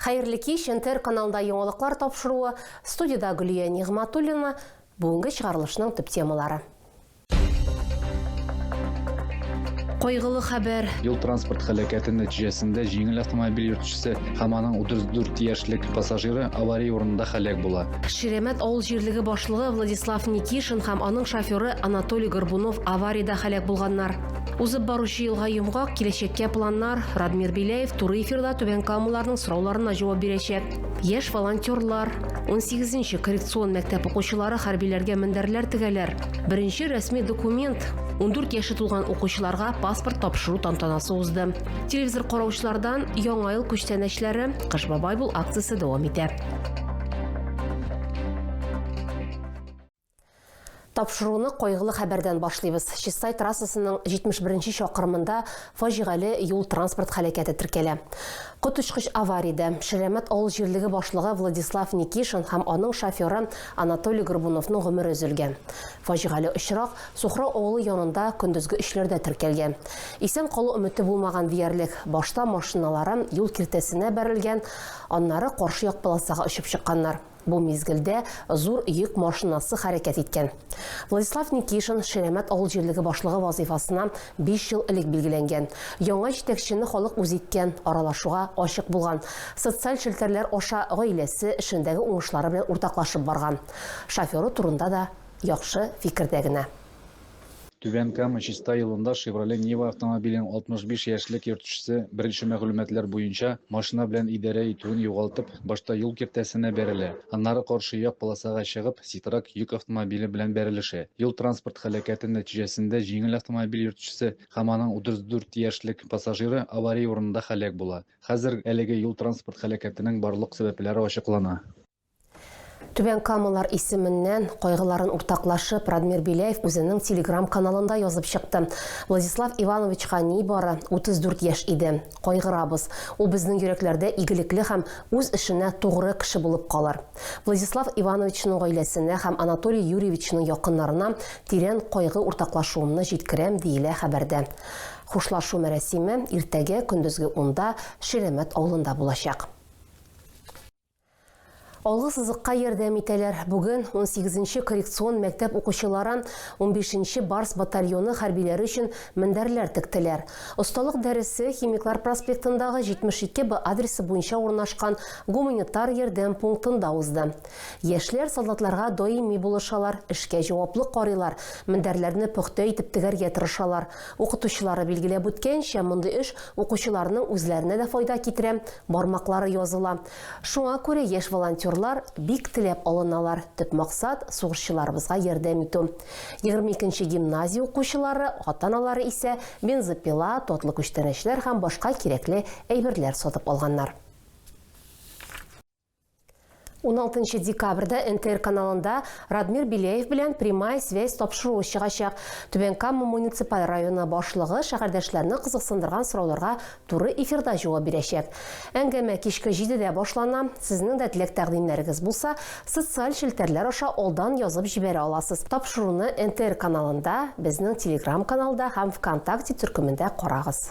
Хәерле кич, НТР каналында яңалыклар тапшыруы, студиядә Гөлия Нигъматуллина, бүгенге чыгарылышның төп темалары. Кайгылы хәбәр. Юл-транспорт һәлакәте нәтиҗәсендә җиңел автомобиль йөртүчесе һәм аның 34 яшьлек пассажиры авария урынында һәлак була. Ширәмәт авыл җирлеге башлыгы Владислав Никишин һәм аның шоферы Анатолий Горбунов авариядә һәлак булганнар. Узып баручы елга йомгак, киләчәккә планнар. Радмир Беляев туры эфирда Түбән Камаларның сорауларына җавап бирәчәк. Яшь волонтерлар, 18-нче коррекцион мәктәп укучылары хәрбиләргә мендәрләр тегәләр. Беренче рәсми документ 14 яше тулган укучыларга паспорт тапшыру тантанасы узды. Телевизор караучылардан Яңа ел күчтәнәчләре, Кыш бабай бул акциясе дәвам итә. Тапшыруны кайгылы хәбәрдән башлыйбыз. Чистай трассасының 71 нче чакрымында фаҗигале юл-транспорт һәлакәте теркәлә. Коточкыч авариядә Ширәмәт авыл җирлеге башлыгы Владислав Никишин һәм аның шоферы Анатолий Горбуновның гомере өзелгән. Фаҗигале очрак Сухрау авылы янында көндезге өчләрдә теркәлгән. Исән калу өмете булмаган диярлек. Башта машиналары юл киртәсенә бәрелгән, аннары каршы як полосага очып чыкканнар. Бу мизгелдә зур йөк машинасы хәрәкәт иткән. Владислав Никишин Ширәмәт авыл җирлеге башлыгы вазыйфасына биш ел элек билгеләнгән. Яңа җитәкчене халык үзе иткән, аралашуга ачык булган, социаль челтәрләр аша гаиләсе, эшендәге уңышлары белән уртаклашып барган. Шоферы турында да яхшы фикердә генә. Түбән Кама, Чистай юлында Шевроле Нива автомобилен 65 яшьлек йөртүчесе, беренче мәгълүматлар буенча, машина белән идарә итүен югалтып, башта юл киртәсенә бәрелә, аннары каршы як полосага чыгып, Ситрак йөк автомобиле белән бәрелешә. Юл-транспорт һәлакәте нәтиҗәсендә җиңел автомобиль йөртүчесе һәм аның 34 яшьлек пассажиры авария урынында һәлак була. Хәзер әлеге юл-транспорт һәлакәтенең барлык сәбәпләре ачыклана. Түбән Камалар исеменнән кайгыларын уртаклашып, Радмир Беляев үзенең телеграм-каналында язып чыкты. Владислав Ивановичка ни бары 34 яшь иде. Кайгырабыз. Ул безнең йөрәкләрдә игелекле һәм үз эшенә тугры кеше булып калыр. Владислав Ивановичның гаиләсенә һәм Анатолий Юрьевичның якыннарына тирән кайгы уртаклашуымны җиткерәм, диелә хәбәрдә. Хушлашу мәрәсиме иртәгә көндезге унда Ширәмәт авылында булачак. Алгы сызыкка ярдәм итәләр. Бүген 18-нче коррекцион мәктәп укучылары 15-нче Барс батальоны хәрбиләре өчен мендәрләр тектеләр. Осталык дәресе Химиклар проспектындагы 72 Б адресы буенча урнашкан гуманитар ярдәм пунктында узды. Яшьләр солдатларга даими булышалар, эшкә җаваплы карыйлар, мендәрләрне пөхтә итеп тегәргә тырышалар, Укытучылары билгеләп үткәнчә, мондый эш укучыларның үзләренә дә файда китерә, бармаклары языла. Шуңа күрә яшь волонтерлар бик теләп алыналар, төп максат, сугышчыларыбызга ярдәм итү. Егерме икенче гимназия укучылары, ата-аналары исә бензопила, татлы күчтәнәчләр һәм башка кирәкле әйберләр сатып алганнар. 16 декабрьдә НТР каналында Радмир Беляев белән прямая связь тапшыруы чыгачак. Түбән Кама муниципаль районы башлыгы шәһәрдәшләрне кызыксындырган сорауларга туры эфирда җавап бирәчәк. Әңгәмә кичке 7-дә башлана. Сезнең дә теләк-тәкъдимнәрегез булса, социаль челтәрләр аша алдан язып җибәрә аласыз. Тапшыруны НТР каналында, безнең Telegram-каналда һәм ВКонтакте төркемендә карагыз.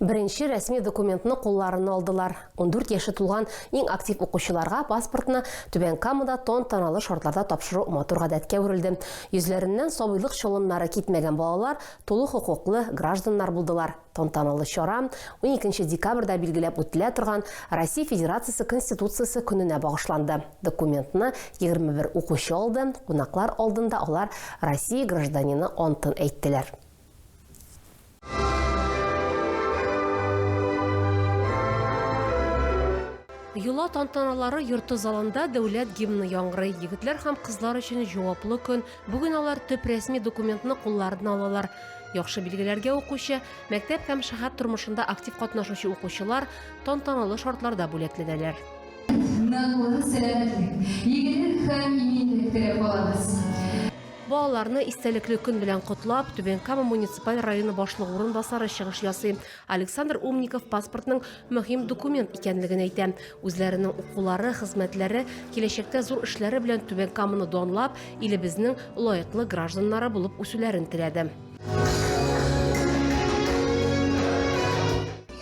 Беренче рәсми документны кулларына алдылар. 14 яше тулган иң актив укучыларга паспортны Түбән Камада тон таналы шартларда тапшыру матур гадәткә әверелде. Йөзләреннән сабыйлык чолымнары китмәгән балалар тулы хокуклы гражданнар булдылар. Тантаналы чара 12 декабрьдә билгеләп үтелә торган Россия Федерациясе Конституциясе көненә багышланды. Документны 21 укучы алды, кунаклар алдында алар Россия гражданины антын әйттеләр. Йола тантаналары йорты залында дәүләт гимны яңгырый. Егетләр һәм кызлар өчен җаваплы көн. Бүген алар төп рәсми документны кулларына алалар. Яхшы билгеләргә укучы, мәктәп һәм шәһәр тормышында актив катнашучы укучылар тантаналы шартларда бүләкләнәләр. Ныклы сәламәтлек, игелек һәм иминлек теләп калабыз. Балаларны истәлекле көн белән котлап, Түбән Кама муниципаль районы башлыгы урынбасары чыгыш ясый. Александр Умников паспортның мөһим документ икәнлеген әйтә. Үзләренең укулары, хезмәтләре, киләчәктә зур эшләре белән Түбән Каманы данлап, илебезнең лаеклы гражданнары булып үсүләрен теләде.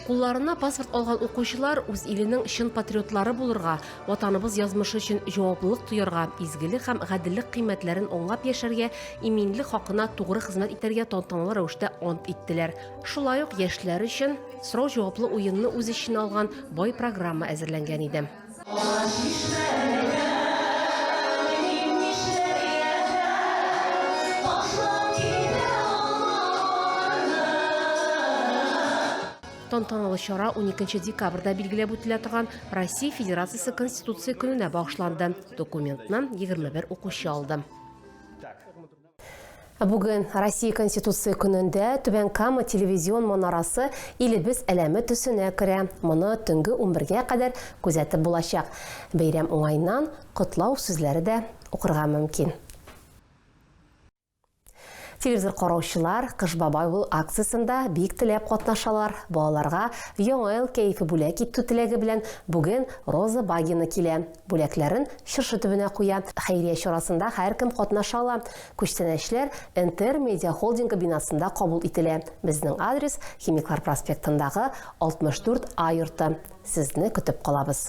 Кулларына паспорт алган укучылар үз иленең чын патриотлары булырга, Ватаныбыз язмышы өчен җаваплылык тоярга, изгелек һәм гаделлек кыйммәтләрен аңлап яшәргә, иминлек хакына тугры хезмәт итәргә тантаналы рәвештә ант иттеләр. Шулай ук яшьләр өчен сорау-җаваплы уенны үз эченә алган бай программа әзерләнгән иде. Тантаналы чара 12 декабрьдә билгеләп үтелә торган Россия Федерациясе Конституция көненә багышланды. Документны 21 укучы алды. Бүген Россия Конституция көнендә Түбән Кама телевизион манарасы илебез әләме төсенә керә. Моны төнге 11-гә кадәр күзәтеп булачак. Бәйрәм уңаеннан котлау сүзләре дә укырга мөмкин. Телевизор караучылар Кыш бабай ул акциясендә бик теләп катнашалар. Балаларга Яңа ел кәефе бүләк итү теләге белән бүген Роза Багина килә. Бүләкләрен чыршы төбенә куя. Хәйрия чарасында һәркем катнаша ала. Күчтәнәчләр Интер Медиа Холдингы бинасында кабул ителә. Безнең адрес, Химиклар проспектындагы 64 А йорты. Сезне көтеп калабыз.